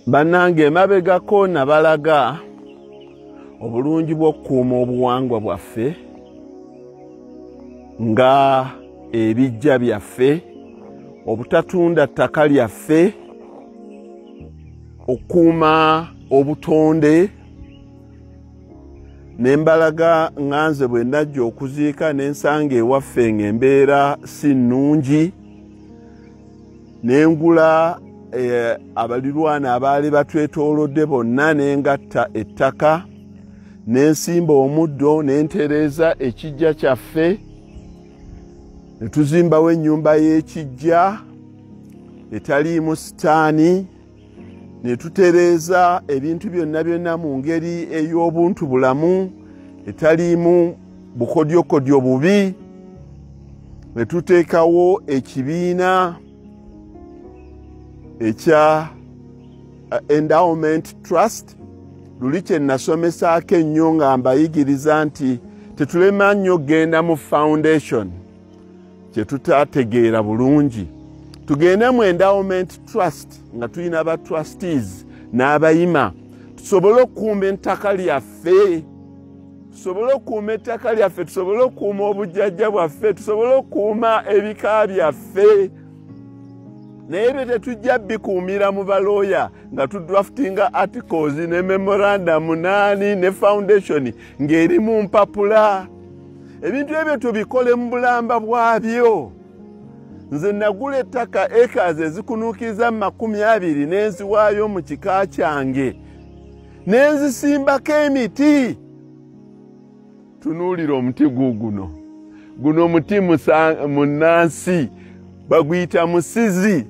bannange emabegako nabalaga obulungi bw'okukuuma obuwangwa bwaffe nga ebijja byaffe obutatunda ttaka lyaffe okukuuma obutonde ne mbalaga nganze bwe najja okuziika ne nsanga ewaffe ng'embeera si nnungi ne ngula eh, abalirwana abaali batwetoolodde bonna ne ngatta ettaka ne nsimba omuddo ne ntereeza ekijja kyaffe ne tuzimbawo ennyumba y'ekijja etaliimu sitaani ne tutereeza ebintu byonna byonna mu ngeri ey'obuntu bulamu etaliimu bukodyokodyo bubi ne tuteekawo ekibiina ekya uh, endowment trust luli kye nasomesaako ennyo nga mbayigiriza nti tetulema nnyo genda mu foundation kye tutategeera bulungi tugende mu endowment trust nga tulina aba trustees n'abayima tusobole okukuuma ettaka lyaffe tusobole okukuuma ettaka lyaffe tusobole okukuuma obujjajja bwaffe tusobole okukuuma ebika byaffe naye ebyo tetujja bikuumira mu balooya nga tudraftinga articles ne memorandum naani ne foundation ng'eri mu mpapula ebintu ebyo tubikole mu bulamba bwabyo nze nagula ettaka ekazi ezikunuukiriza mu makumi abiri n'enziwaayo mu kika kyange ne nzisimbako emiti tunuulira omuti guuguno guno omuti munnansi baguyita musizi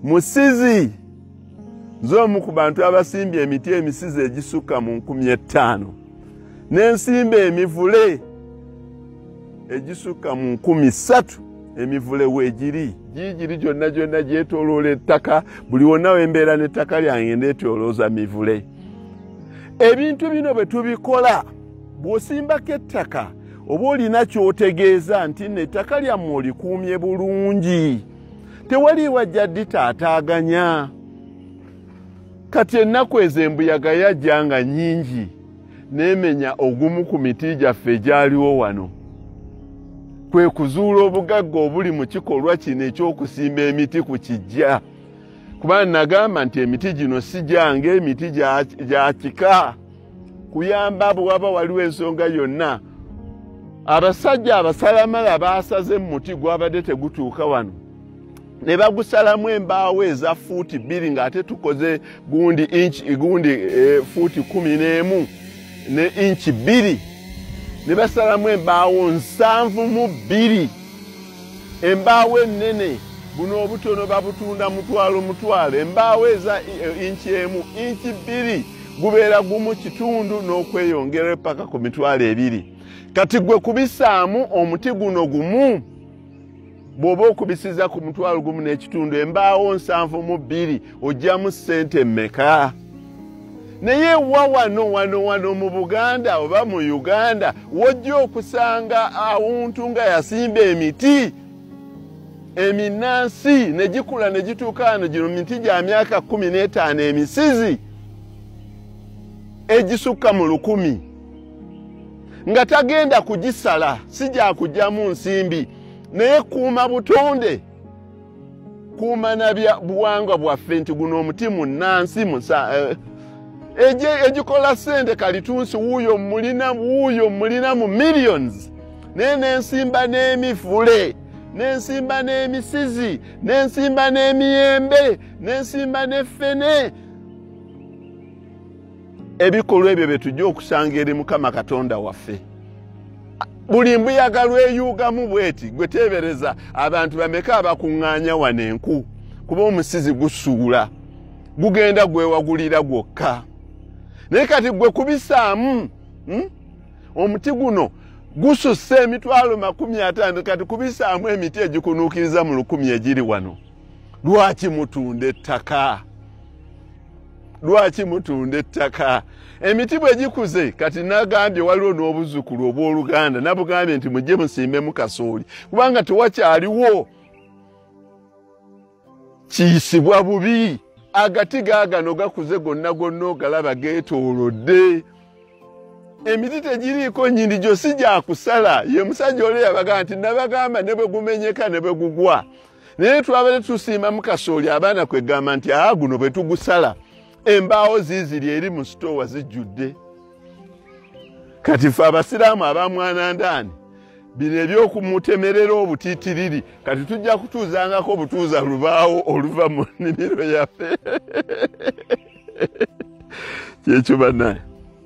musizi nze omu ku bantu abasimbye emiti emisizi egisukka mu nkumi ettaano n'ensimba emivule egisukka mu nkumi ssatu emivule weegiri giigiri gyonna gyonna gyetoloola ettaka buli wonna wembeera n'ettaka lyange ndeetolooza mivule ebintu bino bwe tubikola bw'osimbako ettaka oba olina kyotegeeza nti no ettaka lyammwe olikuumye bulungi tewaliiwa jaddi taataaganya kati ennaku ezo embuyaga yajja nga nyingi n'emenya ogumu ku miti gyaffe egyaliwo wano kwe kuzuula obugagga obuli mu kikolwa kino eky'okusimba emiti ku kijja kuba nagamba nti emiti gino si gyange emiti gya kika kuyamba bwe waba waliwo ensonga yonna abasajja abasalamala baasaze mu muti gwabadde tegutuuka wano ne bagusalamu embaawo eza fuuti bbiri ng'ate tukoze gundi inch gundi e, fuuti kumi n'emu ne inchi bbiri ne basalamu embaawo nsanvu mu bbiri embaawo ennene buno obutono babutunda mutwalo mutwalo embaawo eza e, inchi emu inchi bbiri gubeera gumu kitundu n'okweyongera epaka ku mitwalo ebiri kati gwe kubisaamu omuti guno gumu bw'oba okubisiza ku mutwalo gumu n'ekitundu embaawo nsanvu mu bbiri ojjamu ssente mmeka naye wa wano wano wano mu buganda oba mu uganda wojja okusanga awuntu nga yasimba emiti eminansi ne gikula ne gituuka wano gino miti gya myaka kumi n'etaano emisizi egisukka mu lukumi nga tagenda kugisala si gyakugyamu nsimbi naye kuuma butonde kuuma nabya buwangwa bwaffe nti guno omuti munansi musa eh, egikola sente kalitunsi wuuyo mulina wuuyo mulina mu millions naye nensimba n'emivule nensimba n'emisizi nensimba n'emiyembe nensimba n'effene ebikolwa ebyo byetujja okusanga eri mukama katonda waffe buli mbuyaga lweyuugamu bweti gwe teebereza abantu bameka abakuŋŋaanya wano enku kuba omusizi gusuula gugenda gwewagulira gwokka naye kati gwe kubisaamu hmm? omuti guno gususse emitwalo makumi ataano kati kubisaamu emiti egikunuukiriza mu lukumi egiri wano lwaki mutunda ettaka lwaki mutunda ettaka emiti bwe gikuze kati nagambye waliwo n'obuzzukulu obw'oluganda nabugambye nti mujje musimbemu kasooli kubanga tewakyaliwo kiyisibwa bubi agati gaagano gakuze gonna gonna ogalaba geetoolodde emiti tegiriiko nyini gyosi gyakusala ye musajja oli yabaga nti nabagamba ne bwe gumenyeka ne bwe gugwa naye twabadde tusiimamu kasooli abaana kwegamba nti aa guno bwe tugusala embaawo ziiziri eri mu sitoowa zijjudde kati fe abasiraamu abamwanandaani bino ebyokumutemerera obutitiriri kati tujja kutuuzangako obutuuza lubaawo oluva mu nnimiro yaffe kyekyo banaye